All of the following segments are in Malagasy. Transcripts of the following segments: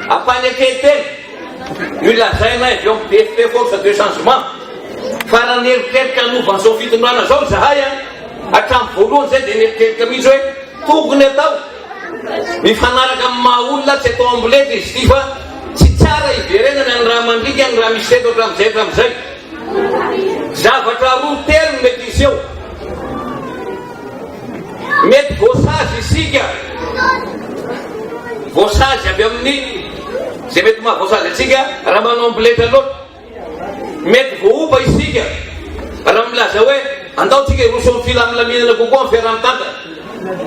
Ampanekentena ny lazainay avy ao BFP Force de Changement fa raha nieritreritra hanova an'izao fitondrana izao izahay a, hatramin'ny voalohany izay dia nieritreritra mihitsy hoe tokony atao mifanaraka amin'ny maha olona tsy atao amboletra izy ity fa tsy tsara hiverenana ny raha mandriaka ny raha misy teto hatramin'izay hatramin'izay. Zavatra roa telo no mety hiseho. Mety voasazy isika, voasazy avy amin'ny izay mety mahavoasazy antsika raha manao ambiletra loatra. Mety voaoba isika raha milaza hoe andaontsika hiroso amin'ny filamilaminana kokoa amin'ny fiaraha-mitantana.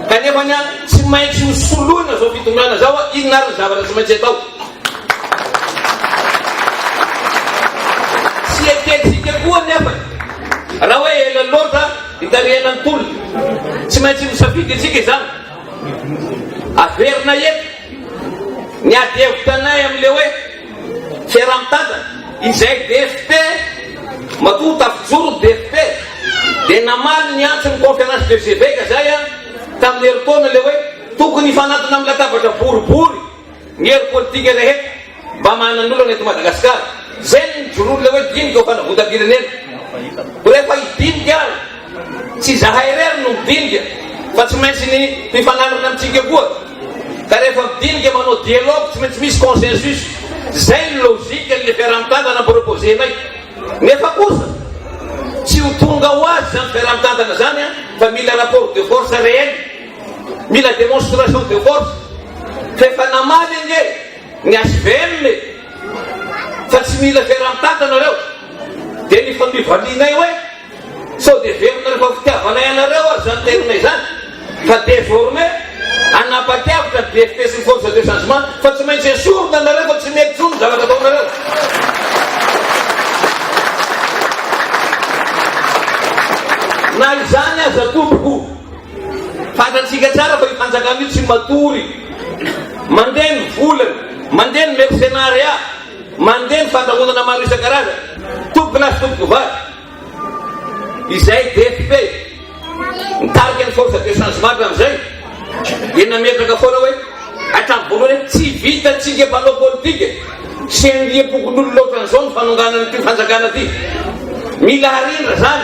Kanefa anie tsy maintsy ho soloina izao fitondrana izao a! Inona ary ny zavatra tsy maintsy atao? Tsy ekentsika koa anefa raha hoe ela loatra hitarihana ny tolona. Tsy maintsy misafidy isika izany. Averina eto ny ady hevitra anay amin'ilay hoe. Fiaraha-mitantana, izay DFP, matoa tafijoro ny DFP, dia namaly ny antson'ny Conférence des Evêques izay an, tamin'ny herintaona ilay hoe tokony hifanantona amin'ny latabatra boribory ny hery politika rehetra mba manan'olana eto Madagasikara. Izay no nijoroan'ilay hoe dinika ho fanavotam-pirenena. Rehefa hidinika ary. Tsy izahay irery no midinika fa tsy maintsy ny mpifanandrina amintsika koa. Ka rehefa midinika manao dialogue tsy maintsy misy consensus. Zay ny logique ny fiaraha-mitantana amproposer-nay. Nefa kosa tsy ho tonga ho azy zany fiaraha-mitantana zany an fa mila rapport de force réel. Mila démonstration de force. Fa efa namaly ange ny HVM e. Fa tsy mila fiaraha-mitantana reo. Dia ny fandrivalinay hoe. Sao dia velona fa fitiavanay anareo ary izany tenona izany fa désormais hanapa-kevitra ny DFP sy ny Force de Changement fa tsy maintsy esorina nareo fa tsy mety intsony ny zavatra ataonareo. Na izany aza tompoko, fantatsika tsara fa io fanjakana io tsy matory, mandeha ny volany, mandeha ny mercenariat. Mandeha ny fandrahonana maro isan-karazany, tompokolahy sy tompokovavy, izay DFP nitarika ny Force de Changement hatramin'izay, dia nametraka foana hoe hatramin'ny voalohany hoe tsy vitantsika mpanao politika sy andiam-pokonolona ohatran'izao ny fanonganana ity fanjakana ity. Mila harendra izany.